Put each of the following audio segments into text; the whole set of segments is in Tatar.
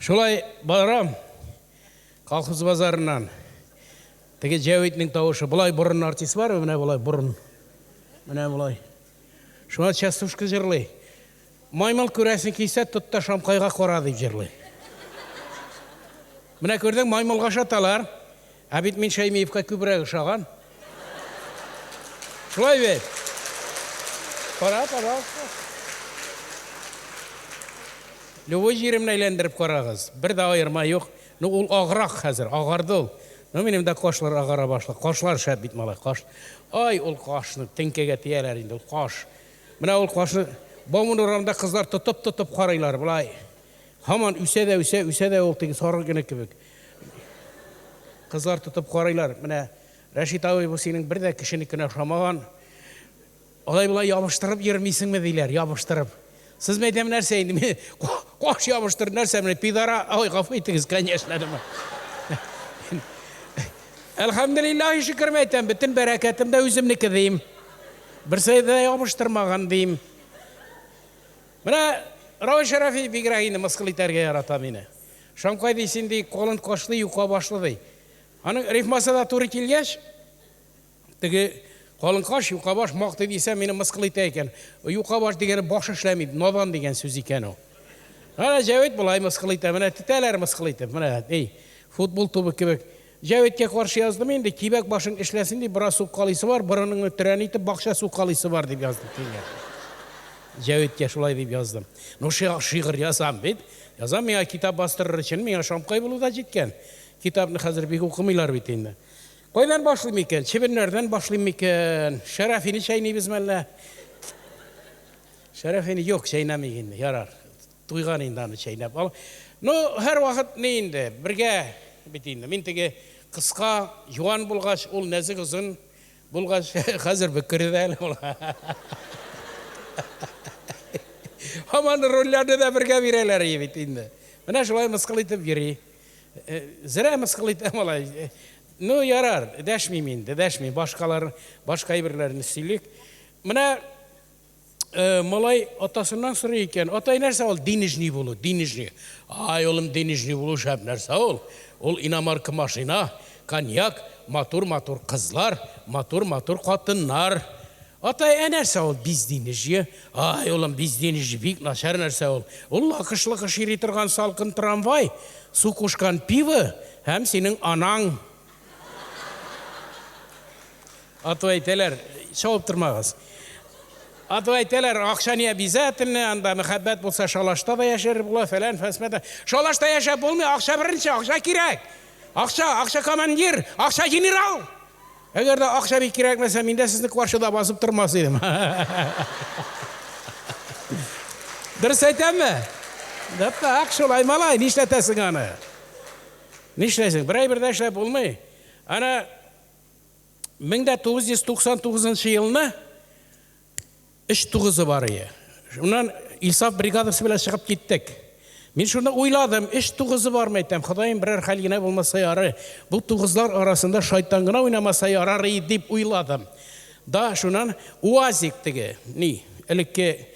Шулай барам колхоз базарыннан. Теге Җәвитнең тавышы. Болай борын артист бар, менә болай борын. Менә болай. Шуңа частушка җырлый. Маймыл күрәсең килсә, тот та шамкайга кара, дип җырлый. Менә күрдең, маймылга ашаталар. Ә бит мин Шәймиевка күбрәк ошаган. Шулай бит. Кара, пожалуйста. Любой җиремне әйләндереп карагыз. Бер дә аерма юк. Ну ул аграк хәзер, агарды ул. Ну минем дә кашлар агара башлады. Кашлар шәп бит малай, каш. Ай, ул кашны теңкәгә тияләр инде, ул каш. Менә ул кашны Бауман урамында кызлар тотып-тотып карыйлар, болай. Һаман үсә дә үсә, үсә дә ул теге сарык генә кебек. Кызлар тотып карыйлар. Менә Рәшит абый, бу синең бер дә кешенекенә ошамаган. Алай-болай ябыштырып йөрмисеңме, диләр, ябыштырып. Сез, мин әйтәм, нәрсә инде, мин каш ябыштыр, нәрсә менә, пидора, ой, гафу итегез, конечно, әдәмә. Әлхәмдулиллаһи шөкер, мин әйтәм, бөтен бәрәкәтем дә үземнеке, дим. Берсе дә ябыштырмаган, дим. Менә Равил Шәрәфи бигрәк инде мыскыл итәргә ярата мине. Шамкай ди, син ди, колын кашлы, юка башлы ди. Аның рифмасы да туры килгәч, Теге калынкаш юкабаш мактый дисә, мине мыскыл итә икән. Юкабаш дигәне баш эшләми, надан дигән сүз икән ул. Менә Җәвит болай мыскыл итә, менә тетәләр мыскыл итеп, менә, әй, футбол тубы кебек. Җәвиткә каршы яздым инде, кибәк башың эшләсен дип бераз суккалыйсы бар, борыныңны төрән итеп бакча суккалыйсы бар дип яздым киңгә. Җәвиткә шулай дип яздым. Ну, шигырь язам бит. Язам, миңа китап бастырыр өчен, миңа шамкай булу да җиткән. Китапны хәзер бик укымыйлар бит инде. Кайдан башлыйм икән? Чебеннәрдән башлыйм микән? Шәрәфине чәйнибезме әллә? Шәрәфине юк, чәйнәмик инде. Ярар. Туйган инде аны чәйнәп. Ал. Ну, һәрвакыт ни инде, бергә бит инде. Мин теге кыска, юан булгач, ул нәзек озын булгач, хәзер бөкре дә әле ул. Һаман рольләрне дә бергә бирәләр ие бит инде. Менә шулай мыскыл итеп йөри. Зря мыскыл итә малай. Ну, ярар, дәшмим инде, дәшмим. Башкалар, башка әйберләрне сөйлик. Менә малай атасыннан сорый икән, атай нәрсә ул денежный булу, денежный. Ай, улым, денежный булу шәп нәрсә ул. Ул иномарка машина, коньяк, матур-матур кызлар, матур-матур хатыннар. Атай, ә нәрсә ул безденеж? Ай, улым, безденеж бик начар нәрсә ул. Ул лакыш-локыш йөри торган салкын трамвай, су кушкан пиво һәм синең анаң. Ату әйтәләр, чабып тормагыз. Ату әйтәләр, акча не обязательно, анда мәхәббәт булса шалашта да яшәр була, фәлән, фәсмәдә. Шалашта яшәп булмый, акча беренче, акча кирәк. Акча, акча командир, акча генерал. Әгәр дә акча бик кирәкмәсә, мин дә сезне каршыда басып тормас идем. Дөрес әйтәмме? Дәпәк шулай, малай, нишләтәсең аны? Нишләсең? Бер әйбер дә эшләп булмый. Ана 1999 елны Өч тугызы бар ие. Шуннан Илсаф бригадасы белән чыгып киттек. Мин шунда уйладым, өч тугызы бармы әйтәм, Ходаем берәр хәл генә булмаса ярый, бу тугызлар арасында шайтан гына уйнамаса ярар и дип уйладым. Да шуннан УАЗик теге, ни, элекке,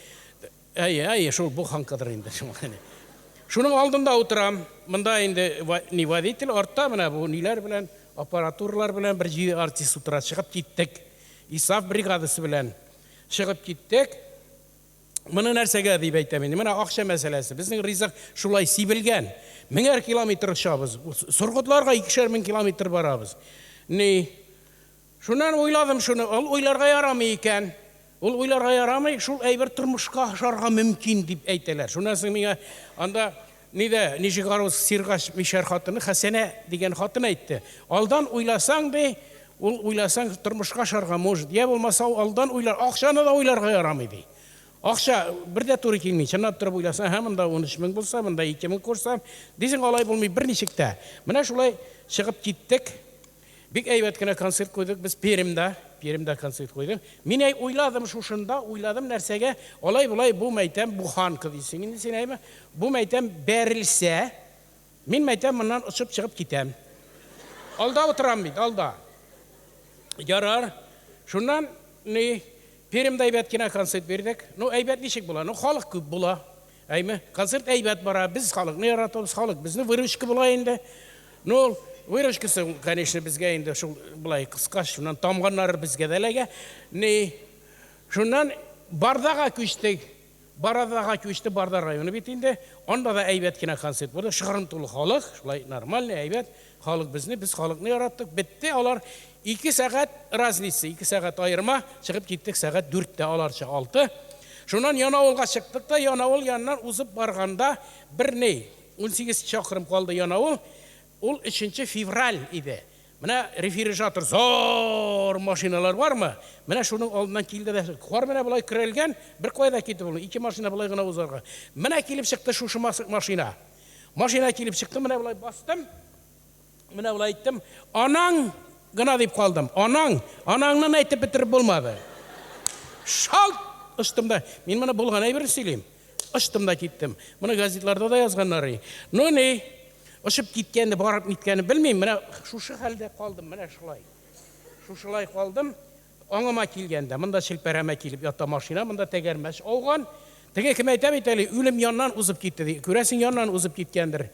әйе, әйе, шул буханкадыр инде шул. Шуның алдында утырам, монда инде ни водитель, артта менә бу ниләр белән, аппаратуралар белән бер җиде артист утыра, чыгып киттек. Илсаф бригадасы белән. Чыгып киттек. Моны нәрсәгә дип әйтәм инде? Менә акча мәсьәләсе. Безнең ризык шулай сибелгән. Меңәр километр очабыз. Соргытларга икешәр мең километр барабыз. Ни? Шуннан уйладым шуны. Ул уйларга ярамый икән. Ул уйларга ярамый, шул әйбер тормышка ашарга мөмкин дип әйтәләр. Шуннан соң миңа анда Ни дә, ничек арус сиргач мишәр хатыны Хәсәнә дигән хатын әйтте. Алдан уйласаң, ди, ул уйласаң тормышка ашарга может. Йә булмаса ул алдан уйлар, акчаны да уйларга ярамый, ди. Акча бер дә туры килми. Чынлап торып уйласаң, һә монда унөч мең булса, монда ике мең курсам, дисең, алай булмый берничек тә. Менә шулай чыгып киттек. Бик әйбәт кенә концерт куйдык без Пермьда, Пермьда концерт куйдык. Мин әй уйладым шушында, уйладым нәрсәгә, алай-болай бу мәйтәм, бу ханка дисең инде син әйме, бу мәйтәм бәрелсә, мин мәйтәм моннан очып чыгып китәм. Алда утырам бит, алда. Ярар. Шуннан ни Пермьда әйбәт кенә концерт бирдек. Ну әйбәт ничек була? Ну халык күп була. Әйме, концерт әйбәт бара, без халыкны яратабыз, халык безне выручка була инде. Ну, ул выручкасы, конечно, безгә инде шул былай кыска, шуннан тамганнары безгә дә эләгә. Ни, шуннан Бардага күчтек. Барадага күчте, Барда районы бит инде. Анда да әйбәт кенә концерт булды. Шыгрым тулы халык, шулай нормальный, әйбәт. Халык безне, без халыкны яраттык. Бетте алар. Ике сәгать разница, ике сәгать аерма. Чыгып киттек сәгать дүрттә, аларча алты. Шуннан Янавылга чыктык та, Янавыл яныннан узып барганда, бер ни, унсигез чакрым калды Янавыл, ул өченче февраль иде. Менә рефирижатор, зо-о-р машиналар бармы, менә шуның алдыннан килде дә, кар менә болай көрәлгән, беркая да китеп булмый, ике машина болай гына узарга. Менә килеп чыкты шушы машина. Машина килеп чыкты, менә болай бастым. Менә болай әйттем, анаң гына дип калдым. Анаң, анаңнан әйтеп бетереп булмады. Шалт очтым да, мин моны булган әйберне сөйлим. Очтым да киттем. Моны газетларда да язганнар. Ну ни, очып киткәнне, барып ниткәнне белмим. Менә шушы хәлдә калдым, менә шулай. Шушылай калдым. Аңыма килгәндә, монда челпәрәмә килеп ята машина, монда тәгәрмәч ауган. Теге кем әйтә бит әле, үлем яннан узып китте ди. Күрәсең, яннан узып киткәндер.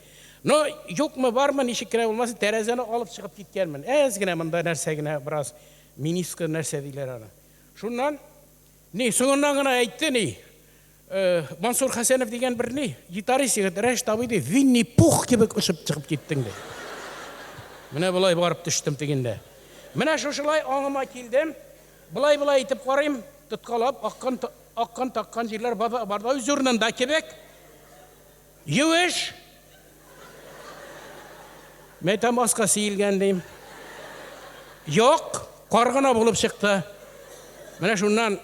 Но, юкмы, бармы, ничек кенә булмасын, тәрәзәне алып чыгып киткәнмен. Әз генә монда нәрсә генә, бераз минискы нәрсә диләр аны. Шуннан, ни, соңыннан гына әйтте, ни, Мансур Хәсәнов дигән бер ни, гитарист егет, Рәшит абый, ди, Винни-Пух кебек очып чыгып киттең, ди. Менә болай барып төштем тегендә. Менә шушылай аңыма килдем, болай-болай итеп карыйм, тоткалап аккан, аккан, таккан җирләр бар, бар да үз урынында кебек. Юеш! Мәйтәм баска сиелгән, дим. Юк, кар гына булып чыкты. Менә шуннан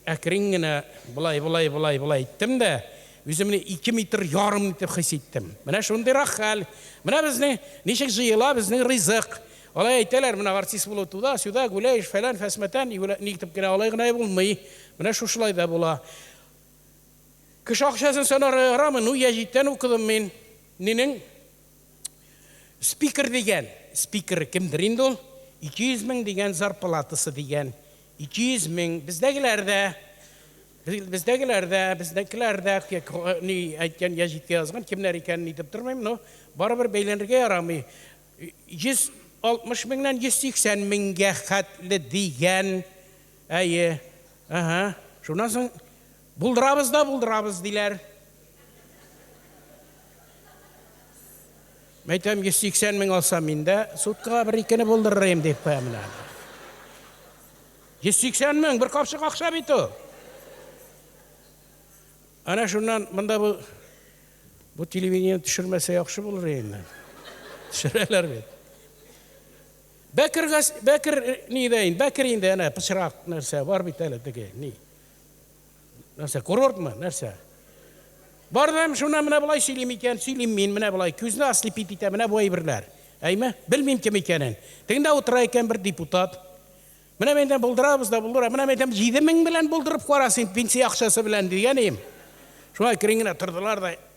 Әкрен генә болай, болай, болай, болай иттем дә, үземне ике метр ярым итеп хис иттем. Менә шундыйрак хәл. Менә безнең ничек җыела безнең ризык. Алай әйтәләр, менә артист булу туда-сюда, гуляешь, фәлән, фәсмәтән, юлә, ни итеп кенә алай гына булмый. Менә шушылай да була. Кеше акчасын санарга ярамый, ну, я җиттән укыдым мин. Минең спикер дигән, спикеры кемдер инде ул, 200 мең дигән зарплатасы дигән, 200 мең, бездәгеләр дә, бездәгеләр дә, безнекеләр дә, ни әйткән, я җиткә язган, кемнәр икәнен әйтеп тормыйм, но барыбер бәйләнергә ярамый. 160 меңнән 180 меңгә хәтле дигән, әйе, әһә, шуннан соң Булдырабыз да булдырабыз, диләр. Мин әйтәм, 180 мең алсам, мин дә суткага бер-икене булдырырым, дип куям менә. 180 мең, бер капчык акча бит ул. Әнә шуннан монда бу бу телевидение төшермәсә яхшы булыр инде. Төшерәләр бит. Бәкер Бәкер ни дә инде, Бәкер инде әнә пычрак нәрсә бар бит әле теге, ни. нәрсә курортмы нәрсә бар да шуны менә болай сөйлим икән сөйлим мин менә болай күзне ослепить итә менә бу әйберләр әйме белмим кем икәнен тегендә утыра икән бер депутат менә мен әйтәм булдырабыз да булдыра менә мен әйтәм җиде мең белән булдырып кара син пенсия акчасы белән дигән идем шулай керин генә тордылар да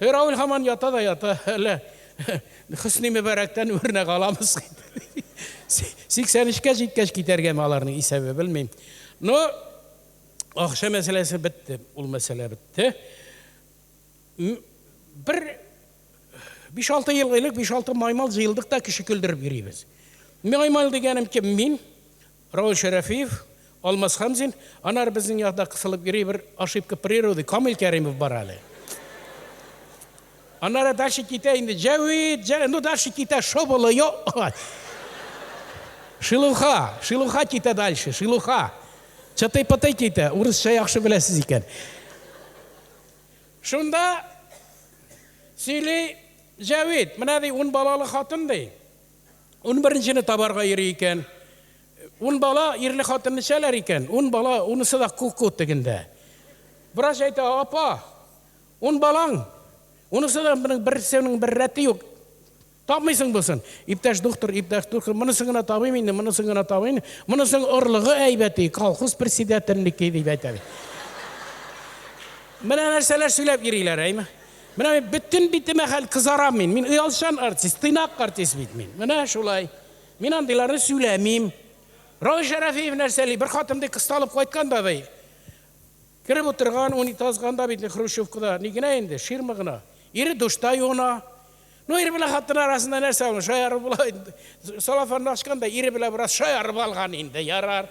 Һе, Равил һаман ята да ята, әллә Хөсни Мөбарәктән үрнәк аламыз. 83 кә җиткәч китәргәме аларның исәбе, белмим. Но акча мәсьәләсе бетте, ул мәсьәлә бетте. Бер 5-6 ел элек 5-6 маймал җыелдык та кеше көлдереп йөрибез. Маймал дигәнем кем? Мин. Равил Шәрәфиев, Алмаз Хәмзин, анар безнең якда кысылып йөри бер ошибка природы, Камил Кәримов бар әле. Аннары дальше китә инде, Җәвит, Җәвит, ну дальше китә Шоболо, йо, ай. Шилуха, Шилуха китә дальше, Шилуха. Чытый-пытый китә, урысча яхшы беләсез икән. Шунда сөйли Җәвит, менә ди ун балалы хатын ди. Унберенчене табарга йөри икән. Ун бала ирле-хатынлы эчәләр икән. Ун бала, унысы да ку-ку тегендә. Врач әйтә, Апа, ун балаң, унысы да моның берсенең бер рәте юк. Тапмыйсың бусын. Иптәш доктор, иптәш доктор, монысын гына табыйм инде, монысын гына табыйм инде. Монысының орлыгы әйбәти, колхоз председателенеке, дип әйтә. Менә нәрсәләр сөйләп йөриләр, әйме? Менә мин бөтен битемә хәл кызарам мин. Мин оялчан артист, тыйнак артист бит мин. Менә шулай. Мин андыйларны сөйләмим. Равил Шәрәфиев нәрсәли? Бер хатын ди кысталып кайткан да бай. Кереп утырган, унитазган да бит Хрущевкада. Ни генә инде, ширма гына. Ире душта юына. Ну, ир белән хатын арасында нәрсә ул? Шаярып була. Салафанны ачкан да ире белән бераз шаярып алган инде, ярар.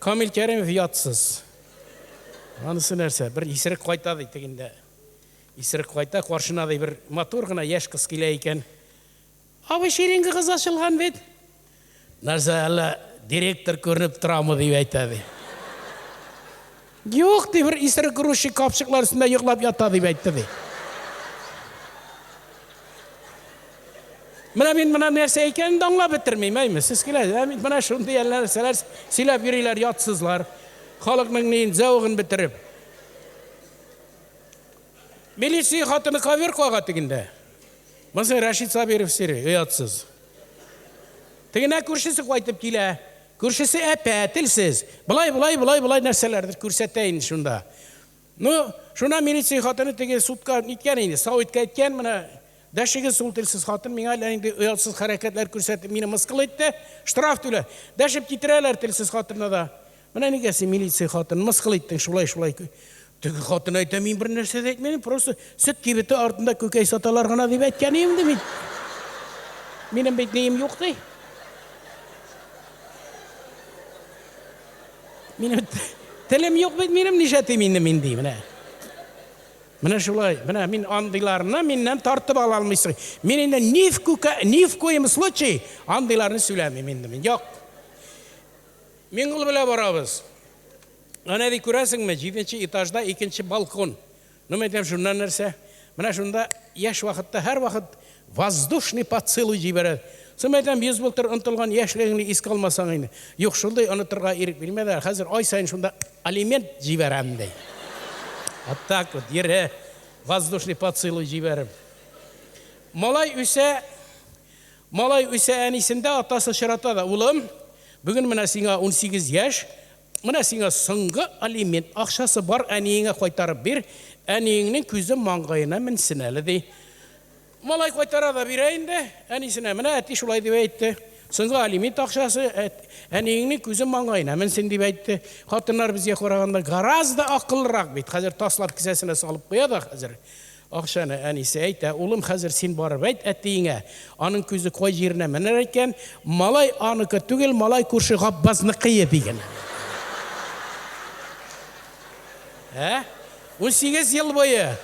Камил Кәримов ятсыз. Анысы нәрсә, бер исерек кайта ди тегендә. Исерек кайта, каршына ди бер матур гына яшь кыз килә икән. Абый, ширинга кыз ачылган бит. Нәрсә, әллә директор күренеп торамы дип әйтә ди. Юк, ди, бер исерек грузчик капчыклар өстендә йоклап ята, дип әйтте, ди. Менә мин менә нәрсә икәнен дә аңлап бетермим, әйме, сез киләсез, ә бит менә шундый әллә нәрсәләр сөйләп йөриләр, ятсызлар. Халыкның ни зәвыгын бетереп. Милиция хатыны ковер кага тегендә. Монысы Рәшит Сабиров сире, оятсыз. Тегенә күршесе кайтып килә. Күршесе әпә, телсез. Болай, болай, болай, болай нәрсәләрдер күрсәтә инде шунда. Ну, шунда милиция хатыны теге судка ниткән инде, Савитка әйткән, менә дәшегез ул телсез хатын миңа әллә нинди оятсыз хәрәкәтләр күрсәтеп, мине мыскыл итте, штраф түлә. Дәшеп китерәләр телсез хатынны да. Менә нигә син милиция хатынын мыскыл иттең, шулай-шулай Теге хатын әйтә, мин бер нәрсә дә әйтмәдем, просто сөт кибете артында күкәй саталар гына дип әйткән идем ди мин. Минем бит нием юк ди. Минем телем юк бит минем, ничә тим инде мин ди менә. Менә шулай, менә мин андыйларны миннән тартып ала алмыйсың. Мин инде ни в күкә, ни в коем случай андыйларны сөйләмим инде мин. Юк. Мин ул белә барабыз. Әнә ди, күрәсеңме, җиденче этажда икенче балкон. Ну, мин әйтәм, шуннан нәрсә? Менә шунда яшь вакытта һәрвакыт воздушный поцелуй җибәрә. Соң мин әйтәм, йөз былтыр онытылган яшьлегеңне искә алмасаң инде. Юк, шундый онытырга ирек бирмәделәр. Хәзер ай саен шунда алимент җибәрәм, ди. Вот так вот, йөрә, воздушный поцелуй җибәреп. Малай үсә, малай үсә, әнисен дә, атасы очрата да. Улым, бүген менә сиңа унсигез яшь, Менә сиңа соңгы алимент акчасы, бар әниеңә кайтарып бир, әниеңнең күзе маңгаена менсен әле, ди. Малай кайтара да бирә инде әнисенә, менә әти шулай дип әйтте, соңгы алимент акчасы, әниеңнең күзе маңгаена менсен дип әйтте. Хатыннар безгә караганда гораздо акыллырак бит, хәзер таслап кесәсенә салып куя да хәзер. Акчаны әнисе әйтә. Улым, хәзер син барып әйт әтиеңә, аның күзе кай җиренә менәр икән, малай аныкы түгел, малай күрше Габбазныкые, ди генә. Ә? Унсигез ел буе,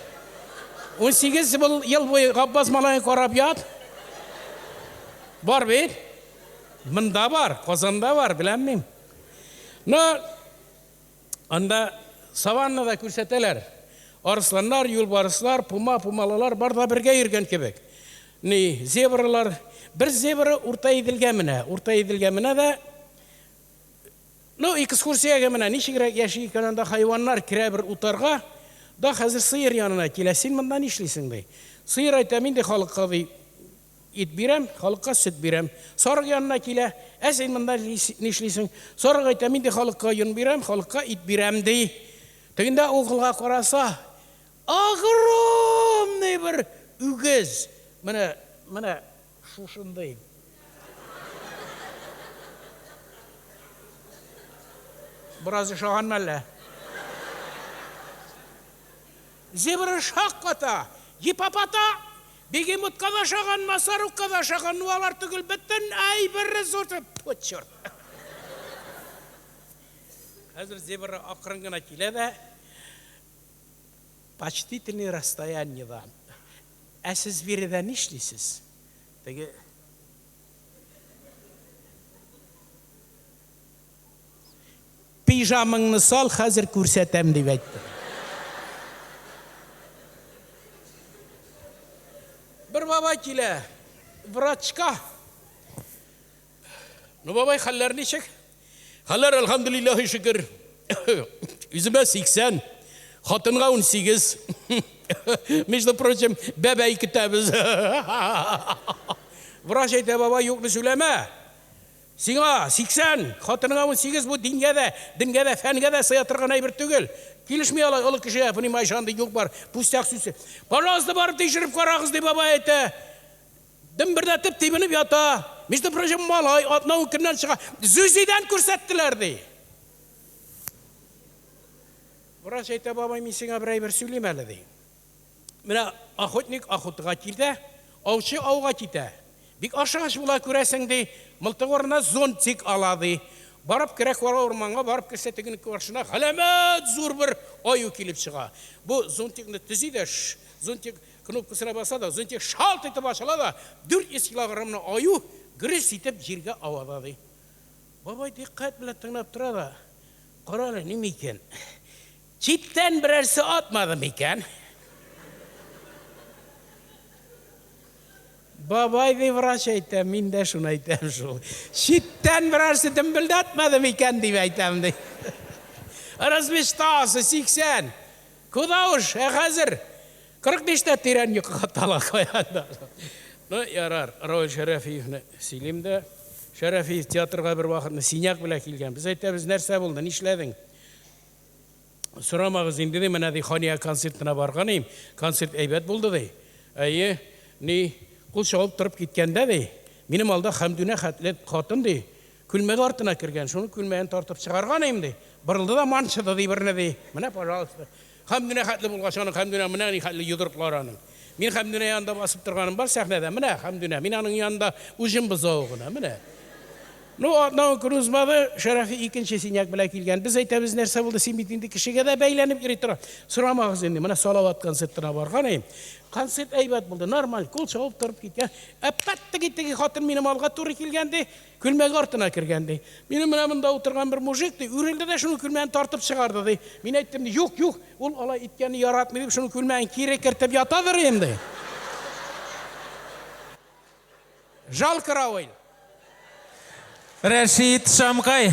унсигез ел буе Габбаз малаен карап ят. Бар бит. Монда бар, Казанда бар, беләм мин. Но Анда саванны да күрсәтәләр. Арысланнар, юлбарыслар, пума, пумалылар бар да бергә йөргән кебек. Ни, зебралар, бер зебра Урта Иделгә менә. Урта Иделгә менә дә Ну, экскурсиягә менә ничегрәк яши икән анда хайваннар, керә бер утарга, да хәзер сыер янына килә. Син монда нишлисең, ди. Сыер әйтә, мин ди халыкка, ди, Ит бирәм, халыкка сөт бирәм. Сарык янына килә, Ә син монда нишлисең? Сарык әйтә, Мин дә халыкка йон бирәм, халыкка ит бирәм, ди. Тегендә угылга караса, огромный бер үгез, менә, менә шушындый. Бераз ошаганмы әллә? Зебра шакката, гипопотам, Бегемотка да ошаган, Масарукка да ошаган, ну алар түгел, бөтен әйбер ресурс. Тьфу, черт. Хәзер зебра акрын гына килә дә почтительный расстояниеда. Ә сез биредә нишлисез? Теге Пижамыңны сал, хәзер күрсәтәм, дип әйтте. Бер бабай килә врачка. Ну, бабай, хәлләр ничек? Хәлләр, әлхәмдүлилләһи шөкер. Үземә 80, хатынга 18. Между прочим, бәбәй көтәбез. Врач әйтә, бабай, юкны сөйләмә. Сиңа, сиксән, хатыныңа унсигез бу дингә дә, денгә дә, фәнгә дә сыя торган әйбер түгел. Килешми алай олы кешегә, понимаешь, андый юк-бар, пустяк сүз. Пожалуйста, барып тикшереп карагыз, ди бабай әйтә. Дөмбердәтеп тибенеп ята. Между прочим, малай атна-ун көннән чыга. Зюзидән күрсәттеләр, ди. Врач әйтә, бабай, мин сиңа бер әйбер сөйлим әле, ди. Менә охотник охотага китә, аучы ауга китә. Бик ашыгыч була, күрәсең, ди, мылтык урынына зонтик ала, ди. Барып керә кара урманга, барып керсә, тегенең каршына галәмәт зур бер аю килеп чыга. Бу зонтикны төзи дә, зонтик кнопкасына баса да, зонтик шалт итеп ачыла да, 400 килограммлы аю гөрес итеп җиргә авада, ди. Бабай дикъкать белән тыңлап тора да, Кара әле, ни микән? Читтән берәрсе атмады микән? Бабай ди врач әйтә, мин дә шуны әйтәм шул. Читтән берәрсе дөмбелдәтмәде микән дип әйтәм ди. Развештасы 80. Куда уж, ә хәзер 45 тә тирән йокыга тала каяда. Ну, ярар, Равил Шәрәфиевне сөйлим дә. Шәрәфиев театрга бервакытны синяк белән килгән. Без әйтәбез, нәрсә булды, нишләдең? Сорамагыз инде, ди, менә, ди, Хания концертына барган идем, концерт әйбәт булды, ди. Әйе, ни, кул чабып торып киткәндә, ди, минем алда Хәмдүнә хәтле хатын, ди, күлмәге артына кергән, шуның күлмәген тартып чыгарган идем, ди, борылды да манчыды, ди, берне, ди. Менә, пожалуйста. Хәмдүнә хәтле булгач, аның Хәмдүнә менә ни хәтле йодрыклары аның. Мин Хәмдүнә янында басып торганым бар сәхнәдә. Менә Хәмдүнә, мин аның янында уҗым бозавы гына, менә. Ну, атнауын күрү узмады, Шәрәфи икенче синяк белән килгән. Без әйтәбез, нәрсә булды, син бит инде кешегә дә бәйләнеп йөри тора. Сорамагыз инде, менә Салават концертына барган идем. Концерт әйбәт булды, нормаль, кул чабып торып киткән. Ә пәт теге-теге хатын минем алга туры килгән, ди, Көлмәге артына кергән, ди. Минем менә монда утырган бер мужик, ди, үрелде дә шуның көлмәген тартып чыгарды, ди. Мин әйттем, ди, юк, юк, ул алай иткәнне яратмый, дип, шуның көлмәген кире кертеп ятадыр инде. Жал каравыл. Рәшит Шамгай.